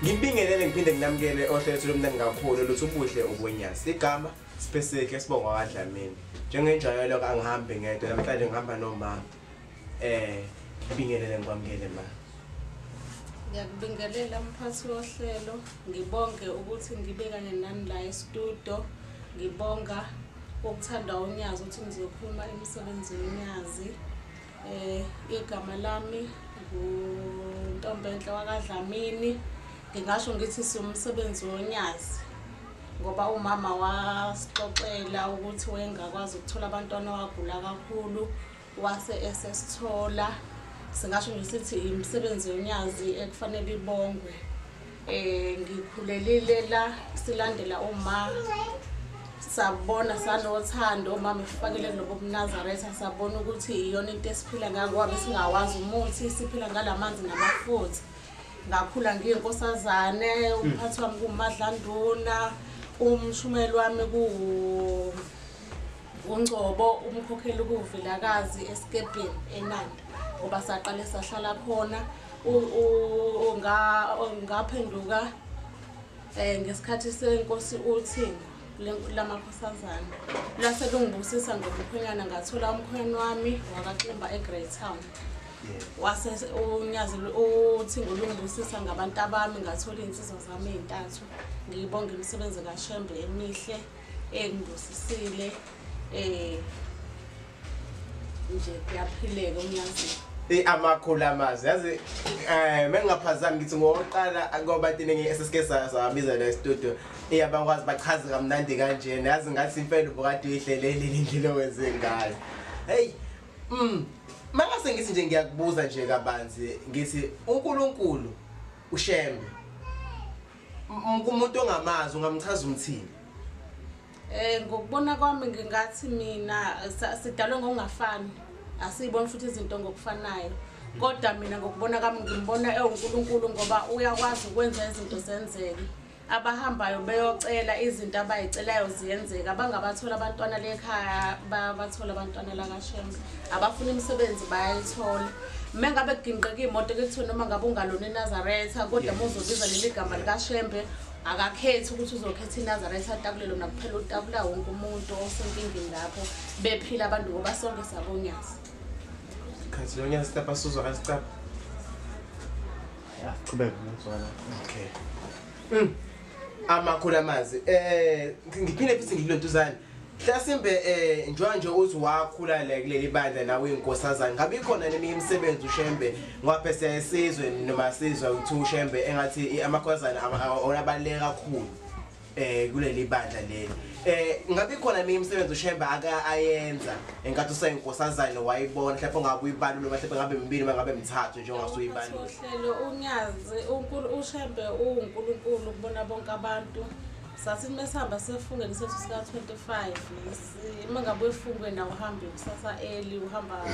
ngimbingelele ngiphinde nginamukele ohlelo lomntana kakhulu luthi ubuhle ubonyasi igama Sipeseke sibonga kaDlamini. Njengenjwayelo kangihambi ngedwa namhlanje ngihamba noma eh ngibingelele ngikwamukele ma. Ngiyakubingelela mphathi wohlelo ngibonge ukuthi ngibe kanye nani la estudio ngibonga ukuthanda unyazi ukuthi ngizokhuluma emsebenzini unyazi Eh igama lami nguntombenhle wakadlamini ngingasho ngithi siwumsebenzi wonyazi ngoba umama wasixoxela ukuthi wayengakwazi ukuthola abantwana wagula kakhulu wase esesithola singasho nje sithi imisebenzi yonyazi ekufanele ibongwe Eh ngikhulelile la silandela uma sabona sanothando uma mifakele lobo kunazaretha sabona ukuthi iyona into esiphila ngayo ngoba besingawazi umuthi siphila ngalamanzi namafutha ngakhula ngiyinkosazane umphathi wami kumadlanduna umshumeli wami kuwu ungcobo umkhokheli kuwuvilakazi esikebheni enanda ngoba saqale sahlala khona ngaphenduka um eh, ngesikhathi senkosi uthingo lamakhosazana lase lungibusisa ngomkhwenyana ngathola umkhwenyana wami wakaximba e-grey town wase unyazi uthingo lungibusisa ngabantu abami ngathola iy'nsizwa zami ey'ntathu ngiyibonga imisebenzi kashembe emihle engibusisile um eh, nje kuyaphileka umyazi i amakhulu amazi yazi eh mengingaphazami ngithi ngoqala ngoba thina ngesike sabiza la studio iyabakwazi bachaze kamnandi kanje yazi ngathi impela ubukade uyihlelele indlela owenze ngayo hey mm mangase ngithi nje ngiyakubuza nje kabanzi ngithi uNkulunkulu ushembe kumuntu ongamazi ungamchaza umthini Eh ngokubona kwami ngingathi mina sidalwe ngokungafani asiyiboni futhi izinto ngokufanayo kodwa mina ngokubona kwami ngimbona ewuNkulunkulu ngoba uyakwazi ukwenza izinto zenzeke abahambayo beyocela izinto abayicelayo ziyenzeka abangabathola abantwana lekhaya babathola abantwana lakashembe abafuna imisebenzi bayayithola uma ngabe kuginqeka iy'moto kekuthiwa noma ngabe ungalona inazaretha kodwa muzobiza leli gama likashembe akakhethi ukuthi uzokhetha inazaretha atakulelo nakuphela utakula wonke umuntu osenkingini lapho bephila abantu ngoba sonke sabonyazi khathi lonyazi tapa suzwa kasicapha yaqhubeka ngizwana okay mm. amakhulu amazi um ngiphinde futhi ngilulentuzane Hlasimbe eh njengoba nje uthi wakhula la kuleli bandla nawe inkosazana ngabe ikhona neminye imisebenzi uShembe ngoba phese yesizwe noma sizwa ukuthi uShembe engathi amakhosazana abaleka kakhulu eh kuleli bandla leli eh ngabe ikhona eminye imisebenzi uShembe aka ayenza enkathi useyinkosazane wayibona mhlawumbe ungabe uyibalule mhlawumbe ngabe mibili ngabe mithathu njengoba usuyibalule uhlelo unyazi uNkulunkulu uShembe uNkulunkulu kubona bonke abantu Sasithi mesihamba sefungeni isethu sika 25 uma ngabe efungweni awuhambe kusasa early uhamba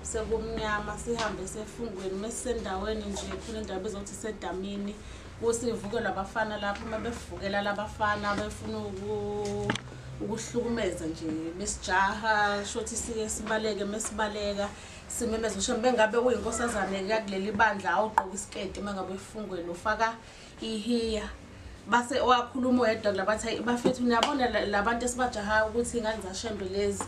sekumnyama sihambe sefungweni mesisendaweni nje khona indawo bezothi sedamini kusivukelwa abafana lapho uma bevukela labafana befuna ukuhlukumeza nje besijaha shothi siye sibaleke mesibaleka simemeza usho bengabe uyinkosazane-ke kuleli bandla awugqoki isiketi uma ngabe efungweni ufaka Ihiya. Base owakhuluma oyedwa labathi hayi bafethu niyabona la- labantu esibajahayo ukuthi ingane zashembe lezi.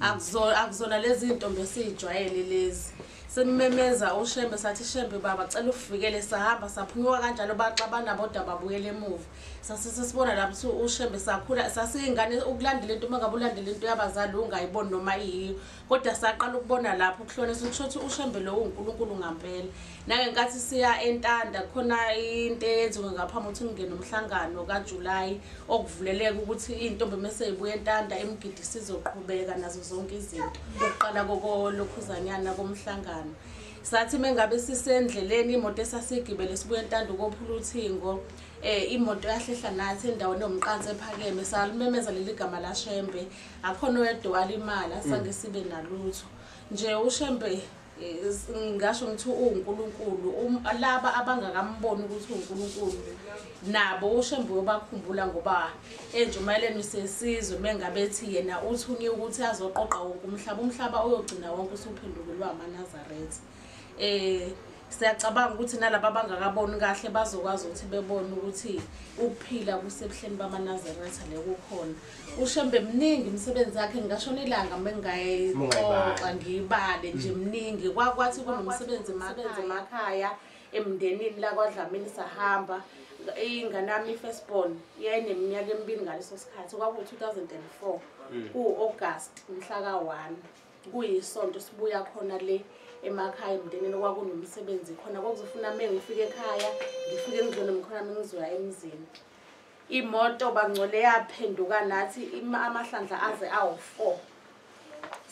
Akuzona akuzona lezi intombi esijwayele lezi. Simemeza ushembe sathi shembe baba cela ufikele sahamba saphunyuka kanjalo baxabana bodwa babuyele emuva. Sasise sibona lapho ukuthi ushembe sakhula sasiyingane ukulandela into uma ngabe ulandela into yabazali ungayiboni noma iyiyo. Kodwa saqala ukubona lapho ukuhlonisa ukusho ukuthi uShembe lo uNkulunkulu ngampela. Nangenkathi siya eNtanda khona into eyenziwe ngaphambi ukuthi kungene umhlangano kaJuly okuvuleleka ukuthi intombi mase ibuya eNtanda imgidi sizoqhubeka nazo zonke izinto. Ukuqala kokolokhuzanyana komhlangano. Sathi mengabe sisendleleni imoto esasigibele sibuya eNtanda ukophula uthingo eh imoto yahlehla nathi endaweni yomqansi ephakeme salumemeza leli gama laShembe akhona oyedwa walimala sange mm. sibe nalutho nje ushembe ngasho ngithi uwuNkulunkulu um, laba abangakamboni ukuthi uNkulunkulu nabo ushembe uyobakhumbula ngoba enjumayeleni sesizwe mengabethi yena uthunye ukuthi azoqoqa wonke umhlaba umhlaba uyogcina wonke usuphendukulwa amanazaretha um siyacabanga ukuthi nalaba abangakaboni kahle bazokwazi ukuthi bebone ukuthi ukuphila kusebuhleni bamanazaretha le kukhona ushembe mningi imisebenzi yakhe ngingashona ilanga mengingayixoxa ngiyibale nje mm. mningi kwakwathi kunomsebenzi mabenzi emakhaya emndenini lakwadlamini sahamba ingane yami i-firstborn yayineminyaka emibili ngaleso sikhathi kwakuwu-2004 mm. kuwu-august mhla ka-one kuyisonto sibuya khona le emakhaya emndenini okwakunomsebenzi khona kwakuzofuna me ngifike ekhaya ngifike ngizone mkhona mi ngizoya emzini imoto bangcole yaphenduka nathi amahlandla aze awu-four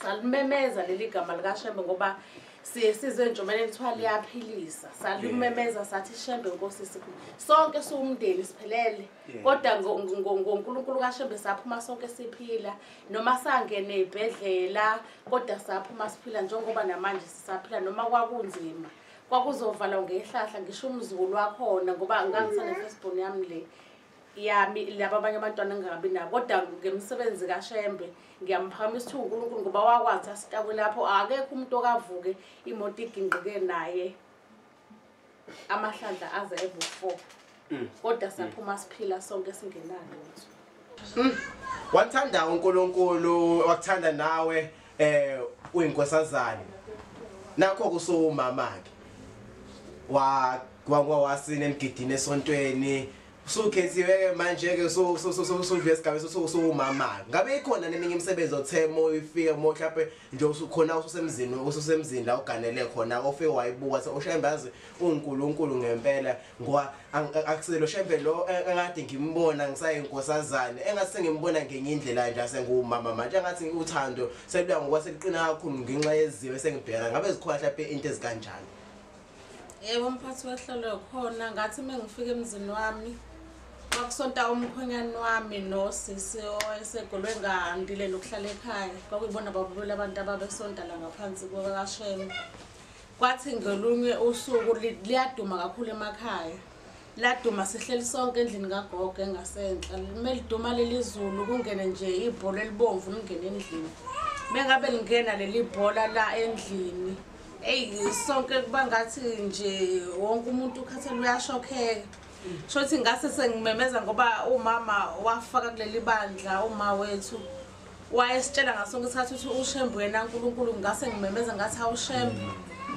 salimemeza leli gama likashembe ngoba siye sizwe njomane kuthiwa liyaphilisa salimemeza sathi shembe nkosisi sonke siwumndeni siphelele kodwa ngonkulunkulu kashembe saphuma sonke siphila noma sangene ibhedlela kodwa saphuma siphila njengoba namanje sisaphila noma kwakunzima kwakuzovalwa ngehlahla ngisho umzukulu wakhona ngoba ngangisane firstborn yami le yami laba abanye abantwana ngingabi nabo kodwa ngemisebenzi kashembe ngiyamphakamisa ukuthi unkulunkulu ngoba wakwazi asitakwe lapho akekho umuntu okavuke imoto igingqike naye amahlandla aze ebu-four mm. kodwa mm. saphuma siphila sonke singenalo mm. wathanda unkulunkulu wakuthanda nawe um uyinkosazane nakho kusowumama-ke wagwangwa wasini emgidini esontweni Sukhethiwe-ke manje-ke sudlula esigabeni suwumama ngabe ikhona neminye imisebenzi othe moyifike mo mhlawumpe nje usukhona ususemzini ususemzini la uganele khona ofike wayibuka se ushembazi unkulunkulu ngempela ngoba akuselo shembe lo engathi ngimbona ngisayinkosazane engathi sengimbona ngenye indlela nje asengiwumama manje engathi uthando seluya ngoba seliqina kakhulu ngenxa yeziwe sengibheka ngabe zikhona mhlawumpe into ezikanjani Yebo umphathi wehlelo khona ngathi mengifika emzini wami kwakusonta umkhwenyane wami nosisi owayesegolwe ngandile nokuhlala ekhaya kwakuyibona babulula abantu ababesonta la ngaphansi kwakashema kwathi ngelunye usuku liyaduma kakhulu emakhaya Laduma sihleli sonke endlini kagogo engasenhla. Lime liduma leli zulu kungene nje ibhola elibomvu lingene endlini. Mengabe lingena leli bhola la endlini. Ey sonke kuba ngathi nje wonke umuntu ukhathele uyashokheka. Shothi ngase sengimemeza ngoba umama wafaka kuleli bandla uma wethu wayesitshela ngaso sonke isikhathi ukuthi ushembe uyena nkulunkulu ngingase ngimemeza ngathi awushembe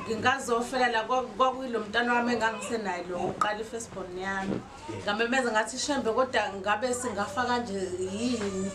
ngingazofela la kwakuyilo mntana wami engangisenaye lo uqala i-firstborn yami ngamemeza ngathi shembe kodwa ngabe singafa kanje yini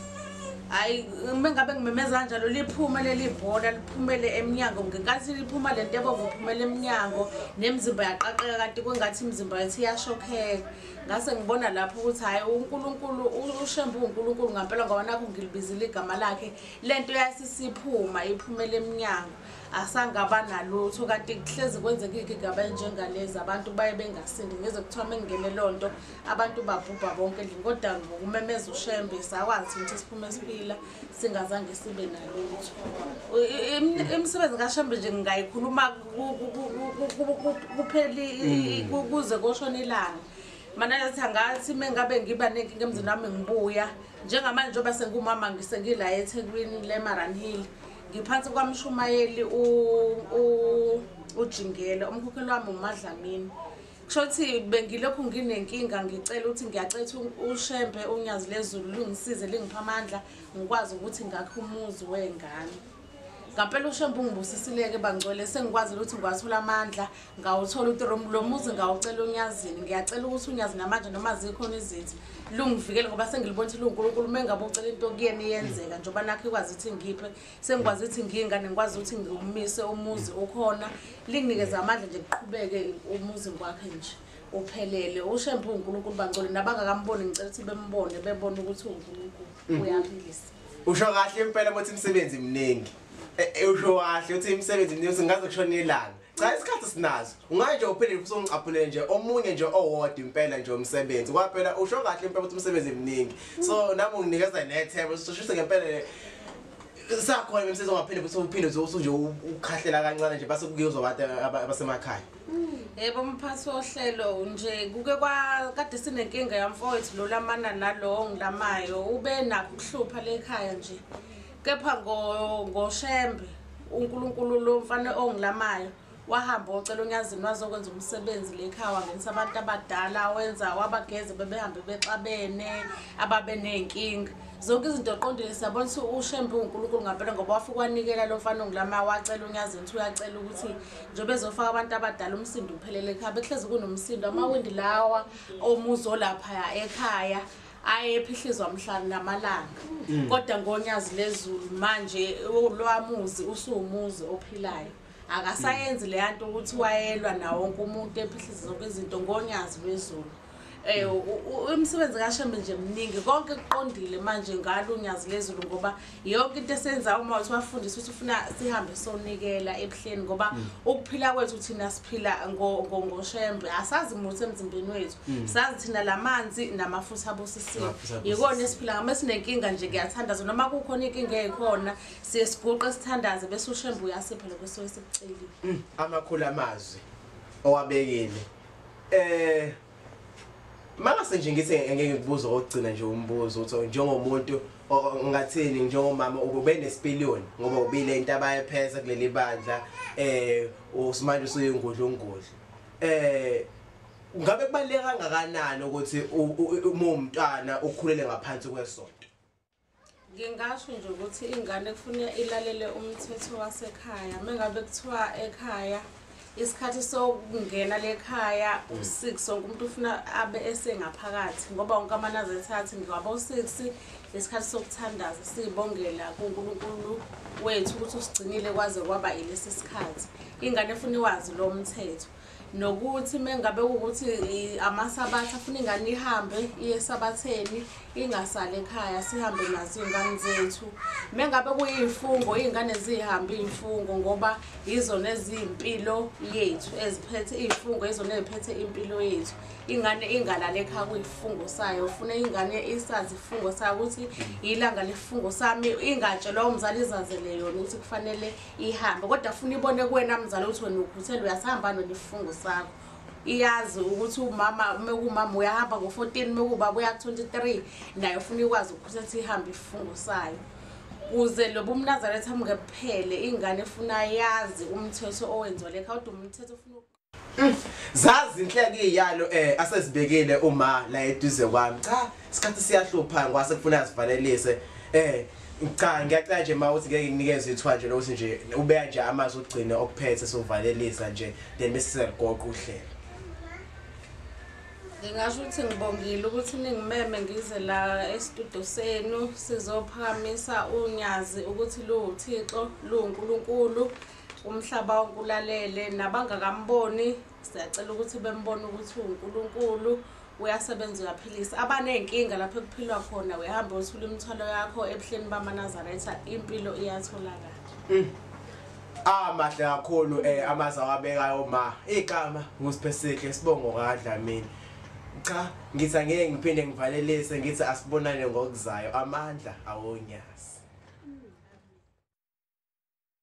hhayi uma ngabe ngimemeza kanjalo liphume leli bhola liphumele emnyango ngenkathi liphuma le nto ebonga uphumela emnyango nemizimba yaqaqeka kanti kwengathi imizimba yethu iyashokheka ngase ngibona lapho ukuthi hhayi unkulunkulu ushembe uwunkulunkulu ngampela ngoba nakho ngilibizile igama lakhe le nto yasisiphuma iphumela emnyango asangaba nalutho kanti kuhlezi kwenzeka iy'gigaba enjengalezi abantu baye bengasindi ngeze kuthiwa mengingene loo nto abantu babhubha bonke endlini kodwa ngokumemeza ushembe sakwazi ukuthi siphume siphila singazange sibe nalutho imisebenzi kashembe nje ngingayikhuluma kupheli mm. kuze koshona ilanga mana yathi angathi uma ngabe ngiba nenkinga emzini wami ngibuya njengamanje njengoba sengumama ngisengila ethekwini lemaran hill ngiphansi kwamshumayeli ujingele umkhokheli wami umadlamini Kushothi bengilokhu nginenkinga ngicela ukuthi ngiyacela ukuthi uShembe unyazi lezulu lungisize lingipha amandla ngikwazi ukuthi ngakhe umuzi wengane. Ngampela uShembe ungibusisileke bangcwele sengikwazile ukuthi ngiwathola amandla ngawuthola ukuthi lo muzi ngawucela uNyazini ngiyacela ukuthi uNyazi namanje noma zikhona izithi lungivikele ngoba sengilibona ukuthi luNkulunkulu mengabe ucela into kuyena iyenzeka njengoba nakho ikwazi ukuthi ngiphe sengikwazi ukuthi ngiyingane ngikwazi ukuthi ngiwumise umuzi ukhona linginikeza amandla nje kuqhubeke umuzi ngikwakhe nje uphelele ushembe unkulunkulu bangcole nabangakamboni ngicela ukuthi bembone bebone ukuthi unkulunkulu mm. uyaphilisa usho kahle impela ukuthi imisebenzi mningi e, e, usho kahle ukuthi imisebenzi mningi singaze kushona ilanga cha isikhathi sinazo ungaye nje uphinde usongicaphulele nje omunye nje owodwa impela nje umsebenzi kwaphela usho kahle impela ukuthi umsebenzi emningi so nami unginikeza nethemba sishise ngempela sakhona imisebenzi ongaphinde futhi uphinde usunje ukhahlela kancane nje base kuyozwa abantu abasemakhaya yebo mphathi wohlelo nje kuke kade sinenkinga yamfowethu lo lamana nalowo ngilamayo ube nakho ukuhlupha lekhaya nje Kepha ngo- ngoShembe, uNkulunkulu lo mfana ongilamayo, wahamba wocela uNyazini wazokwenza umsebenzi le ekhaya, wangenisa abantu abadala, wenza wabageze bebehambe bexabene, ababeney'nkinga. Zonke izinto oqondile siyabona ukuthi uShembe uwuNkulunkulu ngampela ngoba wafike wanikela lo mfana ongilamayo, wacela uNyazini ukuthi uyacela ukuthi njengoba ezofaka abantu abadala umsindo uphelele ekhaya. Bekuhlezi kunomsindo, amawindi lawa omuzi olaphaya ekhaya. aye ephihlizwa mhla namalanga mm. kodwa ngonyazi lezulu manje lwamuzi usuwumuzi ophilayo akasayenzi le yanto ukuthi wayelwa nawo wonke umuntu ephihliza zonke izinto ngonyazi lwezulu um umsebenzi kashembe nje mningi konke kuqondile manje ngalo unyazi lezulu ngoba yonke into esenza uma uthi wafundisa ukuthi ufuna sihambe sonikela ebuhleni ngoba mm. ukuphila kwethu thina siphila ngoshembe asazi muthi emzimbeni wethu mm. sazi thina lamanzi namafutha abusisiwe yikona esiphila ngama esinenkinga nje kuyathandaza noma kukhona inkinga ekhona siye siguqe sithandaze bese ushembe uyasipha lokho sowe sikucelile mm. amakhulu amazwi owabekile eh Mangase nje ngithi ngeke ngikubuze okugcina nje umbuzo uthi njengomuntu ngathini njengomama ube nesipiliyoni ngoba ubile into abayephesa kuleli bandla eh usimanje usuyingudla ungudla eh ngabe kubaleka kangakanani ukuthi uma umntwana ukhulele ngaphansi kwesonto Ngingasho nje ukuthi ingane kufuneka ilalele umthetho wasekhaya. Uma ngabe kuthiwa ekhaya isikhathi sokungena lekhaya hmm. u-six wonke umuntu ufuna abe esengaphakathi ngoba wonke amanazetha athi ngingabo-six isikhathi sokuthandaza siyibongela kunkulunkulu wethu ukuthi usigcinile kwaze kwaba ilesi sikhathi ingane efuna iwazi lo mthetho nokuthi mengabe ukuthi amasabatha afuna ingane ihambe iye esabatheni ingasali ekhaya sihambe nazo iy'ngane zethu mengabe kuyiy'fungo iy'ngane zihambe iy'fungo ngoba yizona eziyimpilo yethu eziphethe iy'fungo yizona eziphethe impilo yethu ingane ingalali ekhaya kuyifungo sayo ufuna ingane isazi ifungo sayo ukuthi yilanga lesifungo sami ingatshelwa umzali izazele yona ukuthi kufanele ihambe kodwa funa ibone kuwena mzala ukuthi wena ukhuthele uyasihamba nonifungo sakho iyazi ukuthi umama uma kuwumama uyahamba ngo-fourteen uma kuwubaba uya ku-twenty-three naye ufuna ikwazi ukhuthela ukuthi ihambe isifungo sayo kuze lo bumnazaretha mngephele ingane efuna yazi umthetho owenziwa lekha kodwa umthetho ufuna Mm. Zazi inhleke iyalo eh asezibekile uma la eduze kwami. Cha, isikhathi siyahlupha ngwase kufuna sivalelise. Eh cha ngiyacela nje ma uthi ngeke nginikeze ithuba nje lokuthi nje ubeya nje amazi ugcine okuphethe sovalelisa nje then bese siyagoqa uhlelo. Ngingasho ukuthi ngibongile ukuthi ningimeme ngize la estudio senu sizophakamisa unyazi ukuthi luwuThixo luwuNkulunkulu umhlaba wonke ulalele nabangakamboni siyacela ukuthi bembone ukuthi uwunkulunkulu uyasebenza uyaphilisa abaney'nkinga lapho ekuphilwa khona uyahambe uthula imithwalo yakho ebuhleni bamanazaretha impilo iyatholakala mm. amahle ah, kakhulu um eh, amazi awabekayo ma igama ngusiphesihle sibongo kadlamini cha ngithi angeke ngiphinde ngivalelise ngithi asibonane ngokuzayo amandla awonyazi